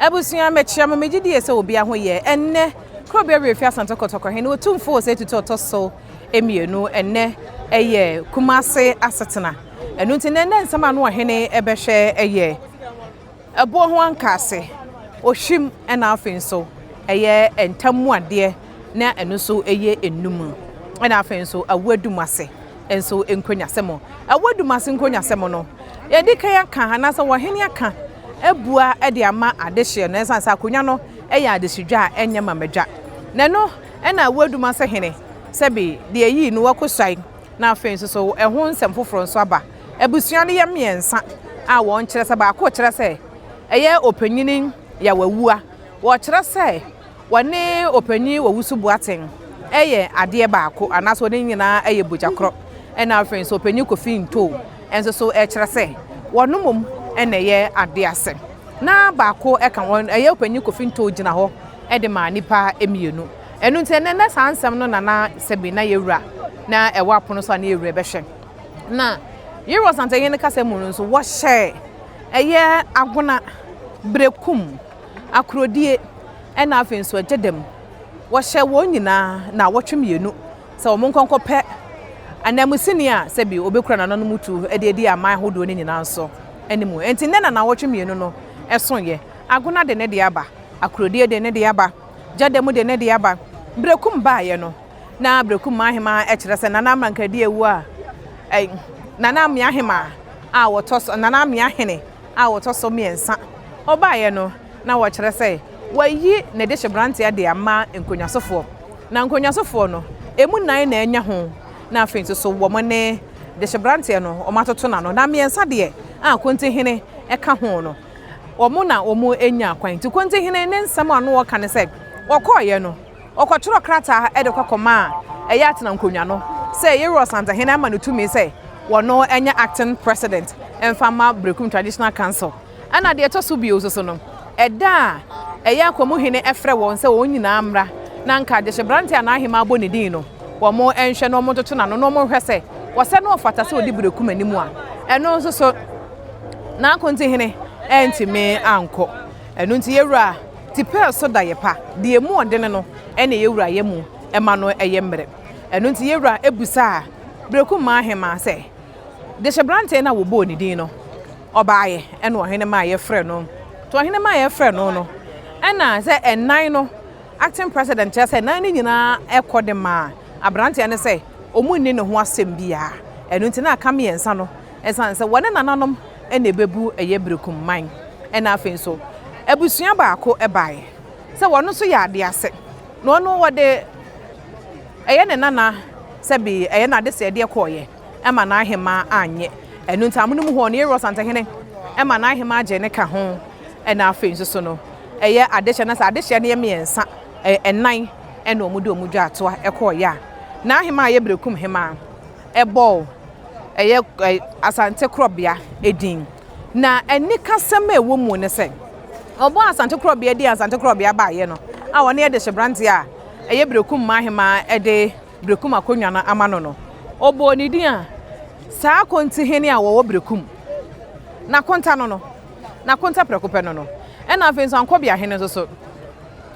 Abusua, mekyea mo. Megye die sɛ obia ho yɛ. Ɛnnɛ, kuro bi awerɛfi Asante Kotoko he ne Otumfo wɔ saa atutu a ɔtɔ so mmienu. Ɛnnɛ yɛ Kumase asetena. Ɛno nti nnɛ nnɛ nsɛm a ano ɔhene bɛhwɛ yɛ ɛboɔ ho ankaase, ohwim ɛna afei nso ɛyɛ ntam mu adeɛ na ɛno nso yɛ nnum ɛna afei nso awoadum ase. nso nkronyasɛm. Ɛwɔ Dumasi nkronyasɛm no, yɛde kan aka anaasɛ wɔhene aka abua de ama adehyeɛ no ɛsiane sɛ akonnwa no yɛ adehyedwa a ɛnyɛ ma madwa. Na ɛno na ɛwɔ Dumasi hene sɛbe deɛ yii no Wakosuai na afei nso so ɛho nsɛm foforɔ nso aba. Abusua no yɛ mmiɛnsa a wɔkyerɛ sɛ baako kyerɛ sɛ ɛyɛ ɔpanyini Yawawua, wɔkyerɛ sɛ. Wɔne ɔpanyin owusu Boateng yɛ adeɛ baako anaasɛ wɔn nyinaa yɛ bogya korɔ. Ɛna afei nso ɔpanyin Kofi Ntoo nso so ɛkyerɛ sɛ wɔn mmom na ɛyɛ adeɛ ase. Na baako ka wɔn ɛyɛ ɔpanyin Kofi Ntoo gyina hɔ de ma nnipa mmienu. Ɛno nti ɛnɛ na saa nsɛm no na na sɛbi na yɛwura na ɛwɔ apono so a na yɛwura ɛbɛhwɛ. Na Yere Ɔsantehene kasa mu no nso wɔhyɛ ɛyɛ agona, berekum. akorodie, ɛna afei nso ɛgye dɛm. Wɔhyɛ wɔn nyinaa naawɔtwe mmienu sɛ wɔn nkɔ nkɔpɛ ananmusini a sɛbi ɔbɛkura nananom tu de adi aman ahodoɔ no nyinaa nso anim. Nti nnɛ na naawɔtwe mmienu no soeɛ. Agona de ne deɛ aba, akorodie de ne deɛ aba, gya dɛm de ne deɛ aba. Berekum baeɛ no, na Berekum Ahemaa kyerɛ sɛ Nana Mankadia wu a, ɛɛ Nana Ameahema a wɔtɔ so, Nana Ameahene, a ɔtɔ so mmiɛnsa ɔbaeɛ no na wɔkyerɛ sɛ wɔayi ne dehyeberanteɛ de ama nkonnwasofoɔ. Na nkonnwasofoɔ no, ɛmu nnan na anya ho, na afei nso so wɔn ne dehyeberanteɛ no wɔatoto no ano. Na mmiɛnsa deɛ a Kontihene ka ho no, wɔn na wɔanya kwan. Nti Kontihene ne nsɛm a ɔno ɔka ne sɛ, wɔkɔeɛ no, Ɔkɔtwerɛɛ krataa de kɔ kɔmaa ɛyɛ atena nkonnwa no sɛ Yero Ɔsantehene ama no tumi sɛ wɔno nyɛ acting president mfa mma Berekum Traditional Council. Ɛna deɛ ɛtɔ so bio nsoso no, ɛda a ɛyɛ Akwamu Hene frɛ wɔn sɛ wɔn nyinaa mmra na nka Gyehyebrante a n'ahemaa bɔ ne din no wɔnhwɛ na wɔntoto n'ano na wɔnhwɛ sɛ ɔsɛ na ɔfata sɛ ɔdi Berekum anim a, ɛno nsoso N'Akontehene antumi ankɔ. Ɛno nti Yero a. Tipɛɛ so da yɛ pa, deɛ ɛmu ɔdene no ɛne yɛ wura yɛ mu ɛma no ɛyɛ mmerɛ. Ɛno nti yɛ wura ɛbusaa Berekummaa Ahemaa sɛ, Dehyebrantee no a wɔbɔɔ ne din no, ɔbaeɛ? Ɛna ɔhene maa yɛ frɛɛ no. Nti ɔhene maa yɛ frɛɛ no no, ɛna sɛ ɛnan no, acting president, kyerɛ sɛ ɛnan no nyinaa ɛkɔ de maa abranteɛ no sɛ wɔnni ne ho asɛm biara. Ɛno nti na aka mmiɛnsa no Esiane sɛ wɔne nananom na ebebu ɛyɛ berekum man na afei nso abusua baako bae sɛ wɔn nso yɛ ade ase na ɔno wɔde ɛyɛ ne nana sɛbe ɛyɛ n'adesɛedeɛ kɔeɛ ɛma n'ahemaa annye ɛno nti amonom hɔ no Yeiros Antahene ɛma n'ahemaa gyee ne ka ho na afei nso so no ɛyɛ adehyeɛ na sɛ adehyeɛ no yɛ mmiɛnsa ɛnan ɛna wɔn de wɔn dwa atoa ɛkɔeɛ a n'ahemaa yɛ berekum hemaa ɛbɔɔ ɛyɛ Asante korɔbea din. Na anikasɛm a ɛwɔ mu ne sɛ, wɔbɔɔ Asante korɔbea din a Asante korɔbea baeɛ no a ɔne Ɛdehyeberanteɛ a ɛyɛ Berekum mmaa hemmaa de Berekum akonnwa no ama no no, wɔbɔɔ ne din a saa Akontihene a ɔwɔ Berekum no akonta no no, n'akonta prɛko pɛ no no. Ɛnna afei nso Ankɔbeahene nso so,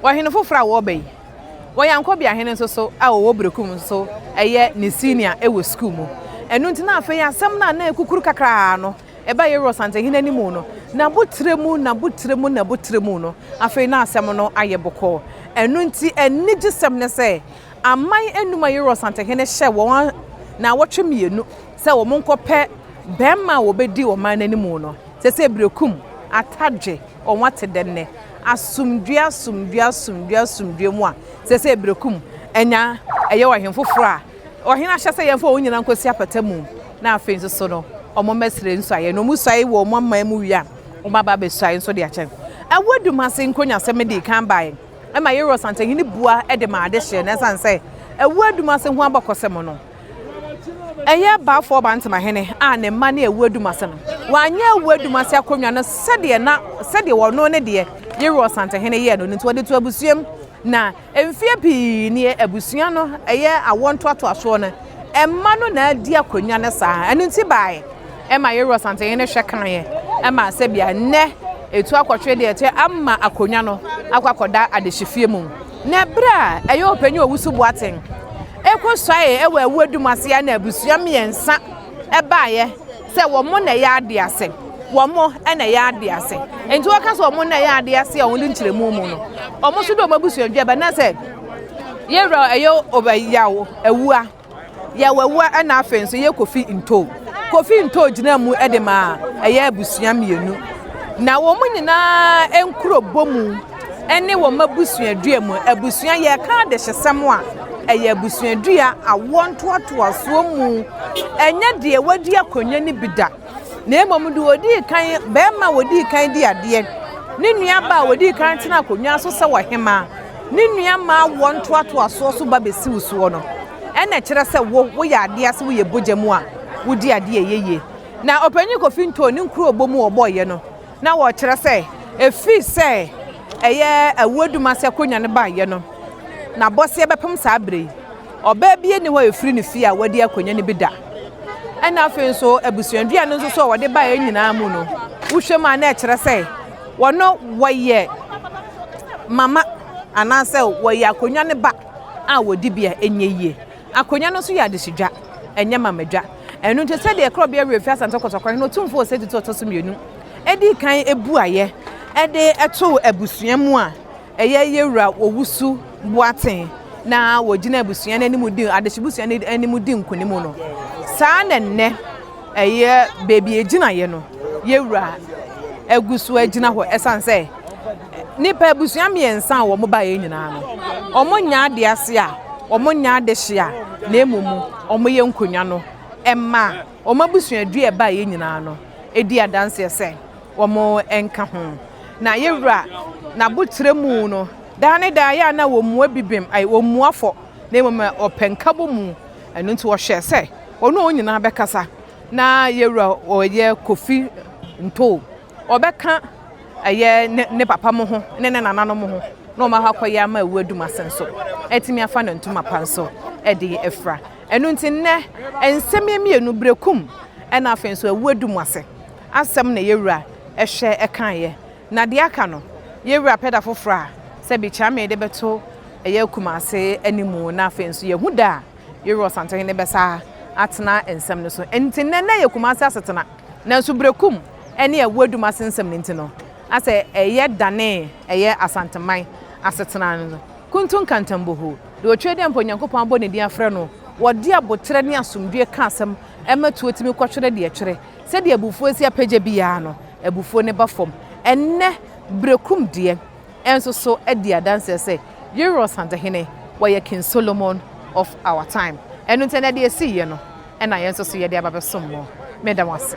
ɔhene foforɔ a ɔreba yi. Wɔ Yankobi ahene nso so a wɔwɔ Berekum nso so ɛyɛ ne senior wɔ sukuu mu. Ɛno nti na afei asɛm no a na ɛkukuru kakraa no ɛba Yero Ɔsantehene anim no, n'abotire mu, n'abotire mu, n'abotire mu no, afei na asɛm no ayɛ bɔkɔɔ. Ɛno nti anigyesɛm ne sɛ aman anum a Yero Ɔsantehene hyɛɛ wɔn nnawɔtwe mmienu sɛ wɔnkɔpɛ barima a wɔbɛdi ɔman no anim no, seesei Berekum, Atadwe, wɔn ate dɛn nnɛ? Asomdwoe, asomdwoe, asomdwoe, asomdwoe mu a, seesei bere ko mu, anya ɛyɛ ɔhene foforo a ɔhene ahyɛ sɛ yɛmfa wɔn nyinaa nkosi apata mu, na afei nso so no, wɔmmɛsrɛ nsuaeɛ, na wɔsuae wɔ wɔn aman mu wie a, wɔaba abɛsuae nso de akyɛ. Ɛwɔ Dumasi nkonyaasɛm no dii kan baeɛ ma Yeiros Antahene bua de maa adehyeɛ, na ɛsiane sɛ ɛwɔ Dumasi ho abakɔsɛm no, Ɛyɛ Balfour Bantamahene a ne mma ne Awu Adumase no. Wanyɛ Awu Adumase akonnwa no sɛdeɛ na sɛdeɛ ɔno ne deɛ Yeru Ɔsantehene yɛɛ no no nti, ɔde too abusuam. Na mfeɛ pii nie, abusua no, ɛyɛ awoɔ ntoatoasoɔ no, mma no na adi akonnwa no saa. Ɛno nti baaeɛ ɛma Yeru Ɔsantehene hwɛ kaeɛ ma sɛbia nnɛ ɛtu akɔtwe deɛ ɛteɛ ama akonnwa no akɔ akɔda adehyefie mu. Na berɛ a ɛyɛ Ɔpanyin Owusu Boateng Ekosuae wɔ ɛwo adum ase a na abusua mmiɛnsa baeɛ sɛ wɔn na ɛyɛ adeɛ ase. Wɔn na ɛyɛ adeɛ ase. Nti wɔka sɛ wɔn na ɛyɛ adeɛ ase a wɔn de nkyerɛmu mu no. Wɔn nso de wɔn abusua dwa ba na sɛ yɛwura ɛyɛ ɔbɛ yaw awua. Yaw awua ɛna afei nso yɛ kofi ntoo. Kofi ntoo gyina mu de ma ɛyɛ abusua mmienu. Na wɔn nyinaa nkuro bɔ mu. ne wɔn abusuadua mu. Abusua, yɛreka adehyesɛm a, ɛyɛ abusuadua, awoɔ ntoatoasoɔ mu. Ɛnyɛ deɛ wadi akonnwa no bi da, na mmom deɛ ɔdii kan, barima a ɔdii kan di adeɛ, ne nua baa a ɔdii kan tena akonnwa so sɛ ɔhemaa, ne nua maa awoɔ ntoatoasoɔ so ba bɛsi wo soɔ no, ɛna ɛkyerɛ sɛ wo, woyɛ adeɛ ase, woyɛ bogya mu a, wodi adeɛ a ɛyɛ yie. Na Ɔpanyin Kofi Ntoh ne nkurobo mu a ɔbɔeɛ no, na wɔkyerɛ sɛ efi sɛ ɛyɛ Awuo-Dumase akonwa no baeɛ no na Bɔseɛ bɛpem saa berɛ yi. Ɔbaa bia nni hɔ a efiri ne fie a wadi akonwa no bi da. Ɛna afei nso abusuadua no nso so a wɔde baeɛ nyinaa mu no wohwɛ mu a na ɛkyerɛ sɛ wɔno wɔyɛ mama anaasɛ wɔyɛ akonwa no ba a wɔdibea ɛnyɛ yie. Akonnwa no nso yɛ adehwedwa, ɛnyɛ mamadwa. Ɛno nti, sɛdeɛ Korɔbea Wura fi Asante Kɔtɔkɔ Hene Otumfoɔ Osei Tutu a ɔtɔ so mmienu dii kan buaeɛ de too abusua mu a ɛyɛ Yewura Owusu Boateng na wɔgyina abusua no anim di adehyebusua no anim di nkonim no, saa na nnɛ ɛyɛ baabi a ɛgyinaeɛ no Yewura agu so agyina hɔ ɛsiane sɛ Nnipa abusua mmiɛnsa a wɔn baeɛ nyinaa no, wɔnnyɛ ade ase a, wɔnnyɛ adehye a, na mmom wɔyɛ nkonnwa no ma wɔn abusuadua a ɛbaeɛ nyinaa no di adanseɛ sɛ wɔnka ho. Na yɛn Wura n'aboterɛ mu no, daa ne daa ɛyɛ a na wɔmmua bibim, ai, wɔmmua fɔ, na mmom wɔpɛ nkabɔmu. Ɛno nti wɔhyɛɛ sɛ wɔne wɔn nyinaa bɛkasa. Na yɛn Wura ɔyɛ Kofi Ntoh. Ɔbɛka ɛyɛ ne ne papa mo ho ne ne nananom ho na wɔn akɔ akɔyɛ ama awu adum ase nso atumi afa no ntoma pa nso de afira. Ɛno nti nnɛ nsɛm yɛ mmienu, berekum ɛna afei nso awu adum ase asɛm na yɛwura ɛhwɛ ɛkaeɛ. Na deɛ aka no yɛwura pɛ da foforɔ a sɛbi Kyame de bɛto ɛyɛ Kumase anim na afei nso yɛhu da a yɛwura Ɔsantehene bɛsa atena nsɛm no so. Ɛno nti nnɛ na ɛyɛ Kumase asetena nanso berekum. ne ɛwo adum ase nsɛm no nti no, na sɛ ɛyɛ danee ɛyɛ Asanteman asetena no no, Kuntu Nkantam Boho, deɛ ɔtwere dɛ mpo Nyankopɔn abɔ ne din afrɛ no, wɔde aboterɛ ne asomdwoeɛ ka asɛm ma tuo tumi kɔtwere deɛ ɛtwere. Sɛdeɛ abufuo si apagya bi ara no, abufuo no ba fam. Ɛnnɛ, Berekumdeɛ nso so di adanseɛ sɛ, Yere Ɔsantehene, wɔyɛ King Solomon of our time. Ɛno nti, ɛnnɛ deɛ ɛsiiɛ no na yɛn nso so yɛde aba abɛsom mo. Meda mo ase.